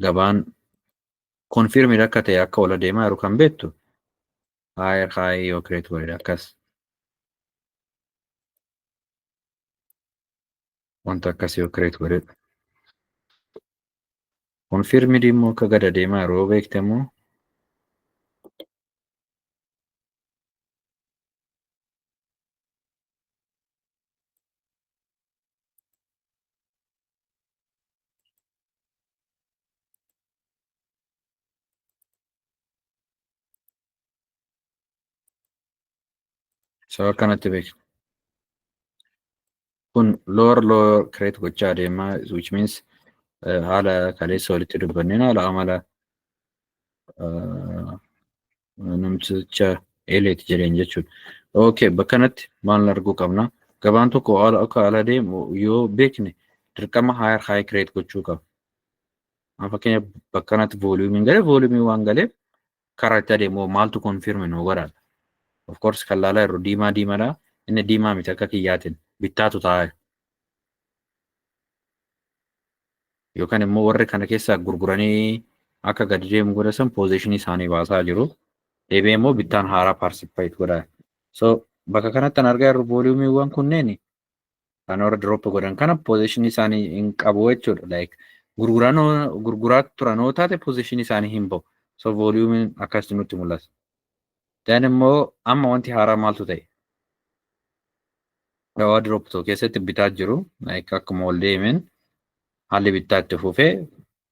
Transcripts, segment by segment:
gabaan konfirmid akka ta'e akka ol adeemaa jiru kan beektu higher high yoo create godhe akkas wanta akkasii yoo kireet godhedha. Konfirmidi immoo akka gad adeemaa jiru yoo beekte immoo Sababa kanatti beekna. kun lower lower create gochaa adeema which means eh, haala kaleessa walitti dubbanneen haala amala eh, namticha eeleeti jedheen jechuudha. Okay, bakka kanatti maal arguu qabna? Gabaan tokko haala akka haala deemu yoo beekne dirqama higher high create gochuu qaba. Amma fakkeenyaaf bakka kanatti vooliyuumiin galee vooliyuumii waan galeef Kara itti adeemu hoo maaltu confirm nuu godha? Of course kan laalaa jirru diimaa diimadha. Inni diimaa miti akka kiyyaatiin bittaatu taa'e. Yookaan immoo warri kana keessaa gurguranii akka gadi deemu godhasan poozeeshinii isaanii baasaa jiru. Deebi'ee immoo bittaan haaraa paarsipaayit godha. So bakka kanatti kan argaa jirru vooliyuumiiwwan kunneen kan warra drop godhan kana position isaanii hin qabu jechuudha like gurguranoo gurguraa turanoo taate position isaanii hin ba'u so volume akkas nutti mul'ata then immoo amma wanti haaraa maaltu ta'e dawaa drop tokko keessatti bitaa jiru like akkuma ol deemeen haalli bittaa itti fufee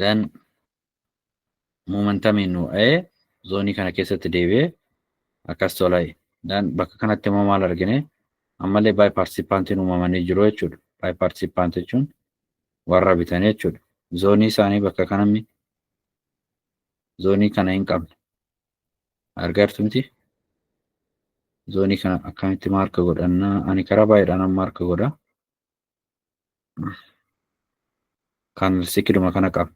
dan momentamiin nu dha'ee zoonii kana keessatti deebi'ee akkas tola'e dan bakka kanatti immoo maal argine ammallee baay paartisipaantiin uumamanii jiru jechuudha baay paartisipaant jechuun warra bitan jechuudha zoonii isaanii bakka kanammi zoonii kana hin qabne argartumti zoonii kana akkamitti maarka godhannaa ani karaa baay'eedhaan maarka godha kan sikiduma kana qabna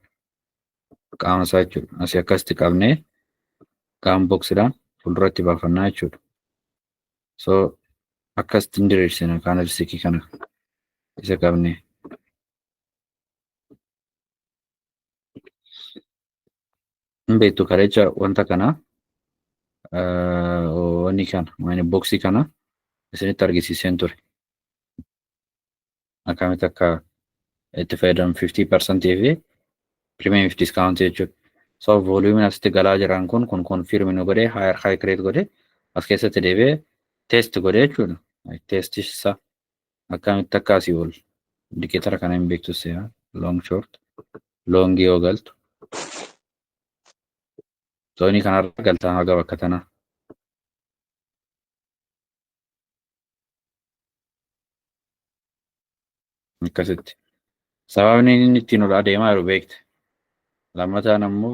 qaama isaa jechuudha asii akkasitti qabnee qaama boksiidhaan fuulduratti baafannaa jechuudha so akkasitti hin diriirsina kaana sikii kana isa qabnee hin beektu kareecha wanta kana wanni kana maani boksii kana isinitti argisiiseen ture akkamitti akka itti fayyadamu 50% fi premium fi discount jechuudha. So volume asitti galaa jiran kun kun confirm nu godhe higher high create godhe as keessatti deebi'ee test godhe jechuudha. Test isaa akkamitti akka asii ol indicator kana hin beektu seera long short long yoo galtu zoonii kanarra galtaa haga bakka tanaa. akkasitti sababni inni ittiin ol adeemaa jiru beekte lammataan ammoo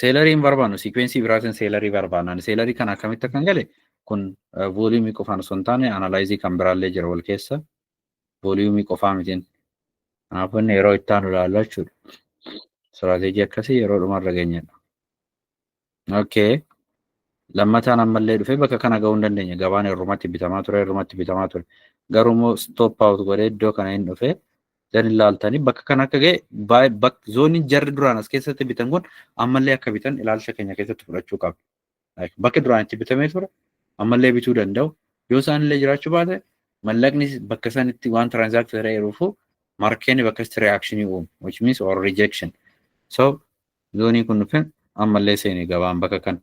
seelarii hin barbaannu siikweensii biraatiin seelarii barbaannan seelarii kana akkamitti akkan gale kun vooliyumii qofaan osoo hin taane analaayizii kan biraallee jira wal keessa vooliyumii qofaa mitiin kanaafuu inni yeroo itti aanu ilaallu jechuudha istiraateejii akkasii yeroo dhumarra geenyedha. Okay. Lammataan ammallee dhufee bakka kana gahuu hin dandeenye. Gabaan irrumatti bitamaa ture, irrumatti bitamaa ture. Garuu immoo stop out godhee iddoo kana hin dhufee dan ilaaltanii bakka kana akka ga'e baay- bak- zooniin jarri duraan as keessatti bitan kun ammallee akka bitan ilaalcha keenya keessatti fudhachuu qabna. Like, Bakki duraan itti bitamee ture ammallee bituu danda'u. Yoo isaan illee jiraachuu baate mallaqni bakka sanitti waan transact ta'eeruufu markeen bakka itti reaction uumu which means or rejection. So Zoonii kun dhufee ammallee seene gabaan bakka kan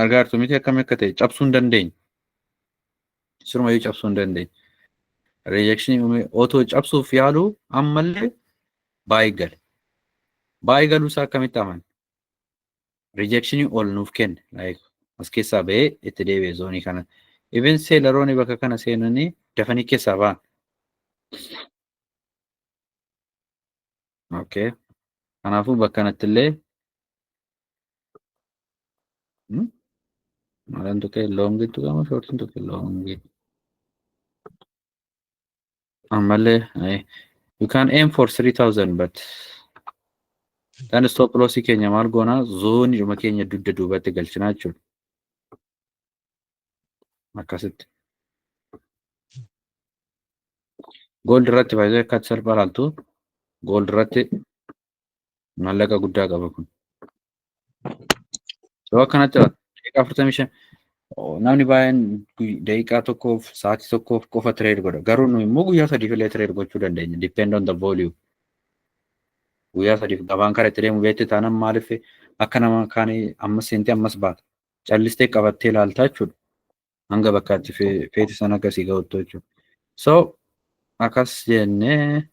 argaa jirtu miti akkami akka ta'e cabsuu hin dandeenye. Sirumayyuu cabsuu hin dandeenye. Rejekshinii uumee otoo cabsuuf yaaluu ammallee baay'ee gale. Baay'ee galuu isaa akkamitti amane? Rejekshinii ol nuuf kenne. Like as keessaa ba'ee itti deebi'e zoonii kana. Even seelaroonni bakka kana seenanii dafanii keessaa ba'an. Okay. Kanaafuu bakka kanatti illee maalaan tuqee loongii tuqama shoortiin tuqee loongii. Ammallee you can aim for 3000 but kan stop loss keenya maal goonaa zoonidhuma keenya dugda duubatti galchinaa jechuudha. akkasitti gold irratti faayidaan akka salphaa laaltu gold irratti maallaqa guddaa qaba kun yoo akkanatti daqiiqaa afurtamii shan namni baay'een daqiiqaa tokkoof sa'aatii tokkoof qofa tireed godha garuu nu immoo guyyaa sadiif illee tireed gochuu dandeenya depend on the volume guyyaa sadiif gabaan kara itti deemu beekte taanaan maaliif akka nama kaanii ammas seentee ammas baata callistee qabattee ilaaltaa jechuudha. Hanga bakka itti feete sana akka sii ga'uttu jechuudha. So akkas jennee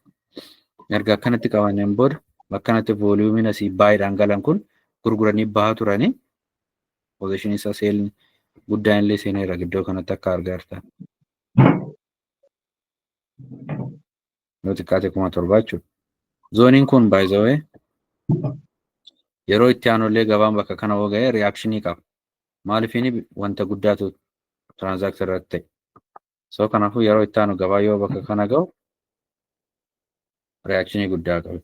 erga akkanatti qabanneen booda akkanatti vooliyuumiin asii baay'eedhaan galan kun gurguranii bahaa turanii pozishinii isaa seelni guddaan illee seeneera iddoo kanatti akka argaa jirtan. yoo xiqqaate kuma torbaa jechuudha. Zooniin kun by the way yeroo itti aanullee gabaan bakka kana hoo ga'e reakshinii qaba. Maaliif inni wanta guddaatu transact irratti ta'e. So kanaafuu yeroo itti aanu gabaa yoo bakka kana ga'u reakshinii guddaa qabu.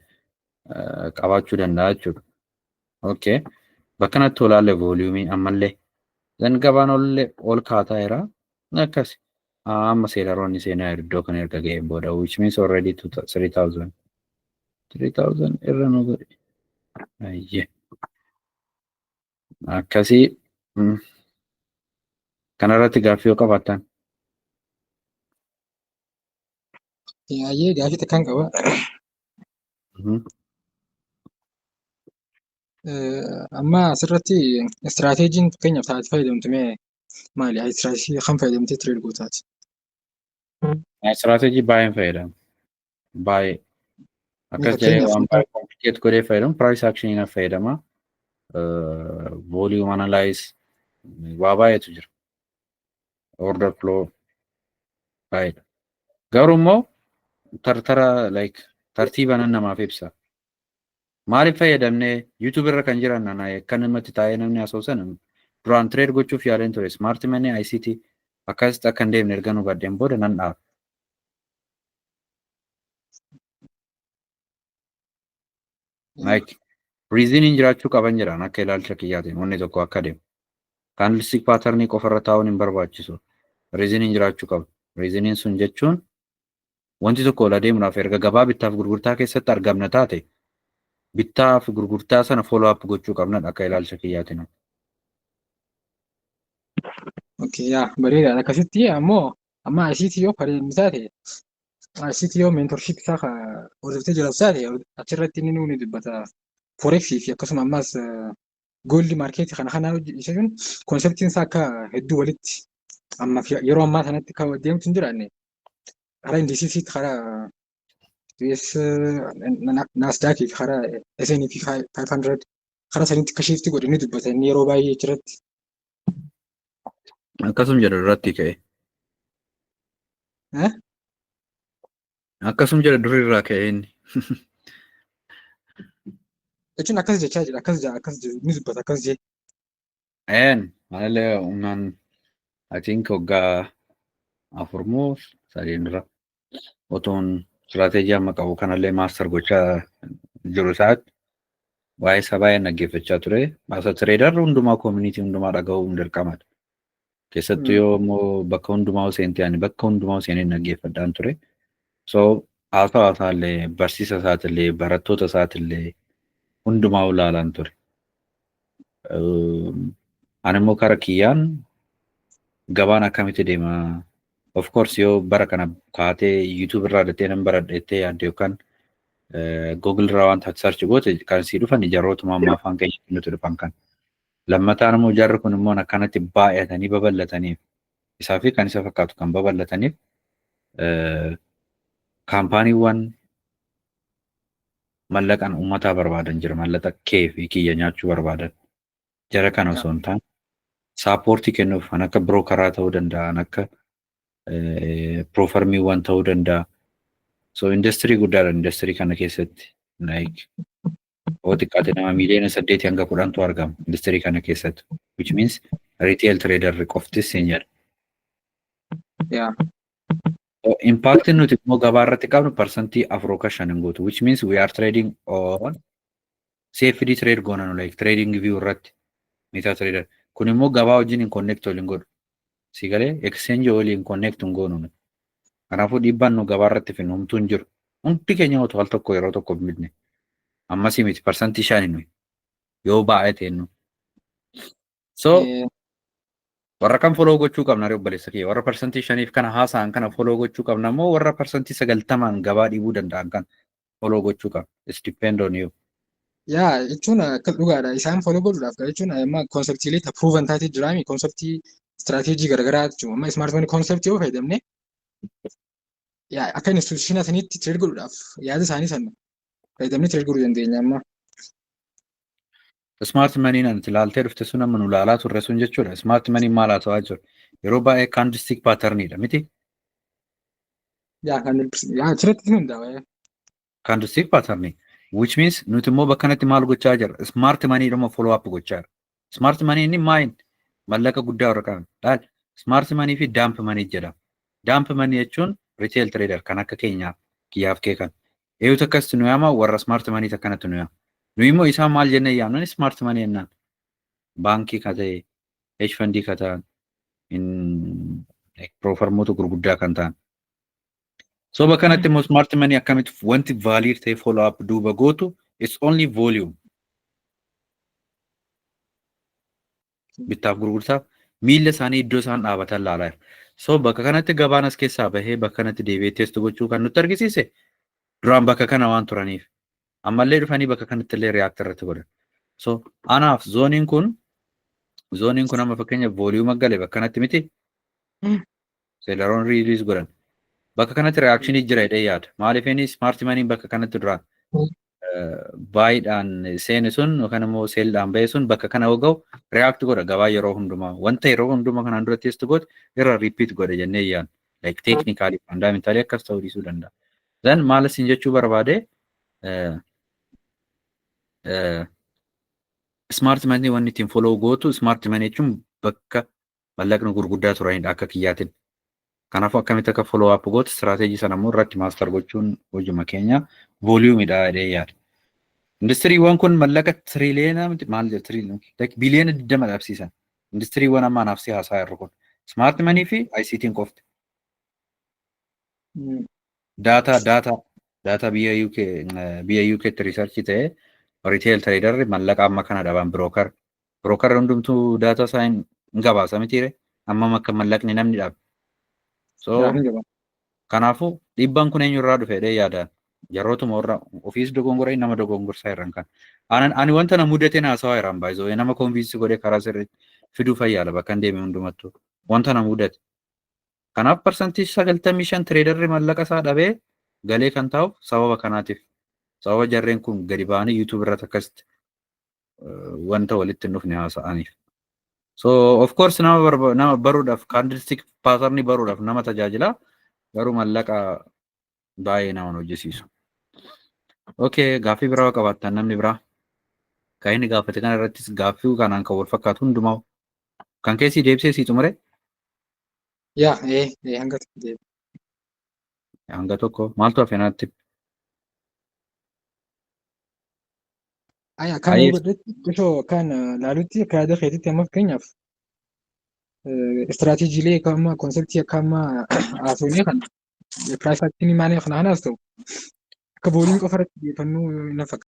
eh, qabaachuu danda'a jechuudha. Okay. Bakka kanatti olaalle vooliyuumii ammallee. Zan gabaan ollee ol kaataa jira. Akkas. Ah, amma seelaroonni seenaa iddoo kana erga ga'een booda which means already 3000 3000 irra nu godhe. Ayye. Akkasii mm. kanarratti gaaffii yoo qabaattan Yaayyee gaaffii takkaan qaba. Mhm. Eh, Amma asirratti istiraateejiin fakkeenyaaf taatee fayyadamtu mee maali istiraateejii kam fayyadamtee tireed gootaati? Istiraateejii baay'een fayyadamu. Baay'ee. Akkas jedhee Fakkeenyaaf waan baay'ee komplikeet godhee fayyadamu piraayis akshinii na fayyadama. Vooliyuum analaayis waa baay'eetu jira. Order flow baay'eedha. Garuu immoo tartara like tartiiba nan namaaf ibsa. Maalif fayyadamne YouTube irra kan jiran ana akka namatti taa'ee namni haasa'u sana duraan trade gochuuf yaaleen ture smart money ICT akkasitti akka hin deemne ergan hubadheen booda nan dhaabe. Like riiziniin jiraachuu qaban jedhan akka ilaalcha kiyyaatiin wanni tokko akka deemu. Kaandilstik paatarnii qofarra taa'uun hin barbaachisu. Riiziniin jiraachuu qaba. Riiziniin sun jechuun Wanti tokko ol adeemuudhaaf erga gabaa bittaaf gurgurtaa keessatti argamna taate bittaa fi gurgurtaa sana follow up gochuu qabnadha akka ilaalcha kiyyaatiin. Okay, yaa bareedaadha. Akkasitti ammoo amma ICT yoo fayyadamu taate ICT yoo mentorship isaa ka hordoftee jiraatu taate achirratti inni nuuni dubbata forex fi akkasuma ammas gold market kana kana hojjechuun konseptiin isaa akka hedduu walitti amma yeroo ammaa sanatti akka deemtu hin jiraanne karaa indiisisii karaa US naasdaak fi karaa SN fi 500 karaa sanitti akka shiifti godhe ni dubbata inni yeroo baay'ee achirratti. Akkasum jedha duratti ka'e. Eh? Akkasum jedha durii irraa ka'e inni. Jechuun akkas jechaa jira akkas jaa akkas jedhu ni dubbata akkas jee. Een anillee humnaan I think waggaa afur moo sadiin dura otoon istiraateejii amma qabu kanallee maaster gochaa jiru isaatti waa'ee isaa baay'een dhaggeeffachaa ture. Asa tireedarri hundumaa koomunitii hundumaa dhaga'uun dirqamadha. Keessattuu yoo immoo bakka hundumaa seentee ani bakka hundumaa seenee dhaggeeffadhaan ture. So haasawa isaallee barsiisa isaatillee barattoota isaatillee hundumaa ulaalaan ture. Ani immoo kara kiyyaan gabaan akkamitti deema of course yoo bara kana kaatee YouTube irraa dattee nan baradha jettee yaadde yookaan Google irraa wanta search goote kan sii dhufan jarootuma amma afaan keenya nuti dhufan kan. Lammataan immoo jarri kun immoo akkanatti baay'atanii babal'ataniif isaa fi kan isa fakkaatu kan babal'ataniif kaampaaniiwwan mallaqan uummataa barbaadan jira mallaqa kee fi kiyya nyaachuu barbaadan jara kana osoo hin taane saappoortii kennuuf kan akka birookaraa ta'uu danda'a kan akka piroofarmiiwwan ta'uu danda'a so industirii guddaadha industirii kana keessatti like yoo xiqqaate nama miiliyoona saddeetii hanga kudhantu argama industirii kana keessatti which means retail trader qoftis hin jedha. Yeah. Impact nuti immoo gabaa irratti qabnu parsantii afur yookaan shan hin guutu which means we are trading on CFD trade goona nu like trading view irratti meta trader kun immoo gabaa wajjin hin connect waliin godhu Si galee exchange waliin connect hin goonu nuti. Kanaafuu dhiibbaan nu gabaa irratti fidnu homtuu hin jiru. Hundi keenya otoo al tokko yeroo tokko bitne ammasii miti parsantii shani nuyi yoo baay'ee ta'e nu. So Eh, warra kan foloo gochuu qabna ree obboleessa kiyya warra parsantii shaniif kana haasa'an kana foloo gochuu qabna moo warra parsantii sagaltamaan gabaa dhiibuu danda'an kana follow gochuu qaba. It's depend on you. Yaa jechuun akka dhugaadha. Isaan follow godhuudhaaf kan jechuun amma konseptiilee ta proven taatee jiraami konseptii istiraateejii garaagaraa jechuudha. Amma ismaartifoonii konseptii yoo fayyadamne yaa akka instituushinaa saniitti tireed godhuudhaaf yaada isaanii sana fayyadamnee tireed godhuu dandeenya amma. Smart money nan itti laaltee dhufte sun amma nu laalaa turre sun jechuudha. Smart money maal haa ta'aa jiru? Yeroo baay'ee candlestick pattern dha miti? Yaa kan yaa achirratti hundaa'e. Candlestick pattern which means nuti immoo bakka kanatti maal gochaa jirra? Smart money dhuma follow up gochaa jirra. Smart money inni maayin mallaqa guddaa warra qaban. Laal smart money fi dump money jedhama. Dump money jechuun retail trader kan akka keenyaa kiyyaaf kee kan. Eeyu takkasitti nu yaama warra smart money takkanatti nu yaama. Nu immoo isaan maal jennee yaamnan smart money jennaan. Baankii ka ta'e, hedge fundii ka ta'an, in- piroofarmoota gurguddaa kan ta'an. So bakka kanatti immoo smart money akkamitti wanti valiir ta'e follow up duuba gootu it's only volume. bittaaf gurgurtaaf miilla isaanii iddoo isaan dhaabatan ilaalaa jira. So bakka kanatti gabaan as keessaa bahee bakka kanatti deebi'ee teestu gochuu kan nutti argisiise duraan bakka kana waan turaniif ammallee dhufanii bakka kanatti illee react irratti godhan. So anaaf zooniin kun zooniin kun amma fakkeenya vooliyuuma gale bakka kanatti miti seelaroon riiliis godhan. Bakka kanatti reakshinii jira jedhee yaada. Maaliif inni smart maniin bakka kanatti duraan baay'idhaan seeni sun yookaan immoo seeldhaan ba'e sun bakka kana hoga'u react godha gabaa yeroo hundumaa wanta yeroo hundumaa kanaan dura test goote irra repeat godha jennee yaan like technically fundamentally akkas ta'uu dhiisuu danda'a. Then maal isin jechuu barbaade smart money wanni ittiin follow gootu smart money jechuun bakka mallaqni gurguddaa turanidha akka kiyyaatin. Kanaafuu akkamitti akka follow up goote strategy sana immoo irratti master gochuun hojuma keenya volume dha jedhee yaada. Industiriiwwan kun mallaqa triliyeena miti maal jedha triliyeena like biliyeena 20 dhabsiisan. Industiriiwwan amma anaaf si haasaa jirru kun smart money fi ICT'n qofti. Daataa daataa daataa biyya UK biyya UKtti riisarchii ta'ee retail traderri mallaqa amma kana dhaban broker Brookarri hundumtuu daataa isaa hin gabaasa mitiire ammam akka mallaqni namni dhaabe. So kanaafuu dhiibbaan kun eenyurraa dhufe jedhee yaadaan jarrootuma warra ofiis dogongoree nama dogongorsaa irraan kan. Ani wanta na mudate haasawaa irraan baay'isoo nama konviinsi godhee karaa sirriitti fiduu fayyaala bakka hin deeme hundumattuu wanta na mudate. Kanaaf parsantii sagaltamii shan tireedarri mallaqa isaa dhabee galee kan taa'uuf sababa kanaatiif sababa jarreen kun gadi ba'anii yuutuubii irratti akkasitti wanta walitti hin dhufne haasa'aniif. So of course nama barba- nama baruudhaaf candlestick pattern baruudhaaf nama tajaajila garuu mallaqa baay'ee nama hin hojjisiisu. Okay, gaaffii biraa yoo qabaattan namni biraa kan inni gaafate kana irrattis gaaffii kanaan kan wal fakkaatu hundumaa kan keessi deebisee sii xumure Yaa, ee, ee, hanga tokko deebi. hanga tokko maaltu hafe naatti Aya kan Ayee. godhetti osoo kan laalutti akka yaada keetitti amma fakkeenyaaf istiraateejiilee akka amma konseptii akka amma haasofnee kan piraayifaaktiin maanii kana hanaas ta'u akka booliin qofa irratti xiyyeeffannoo hin fakkaatu.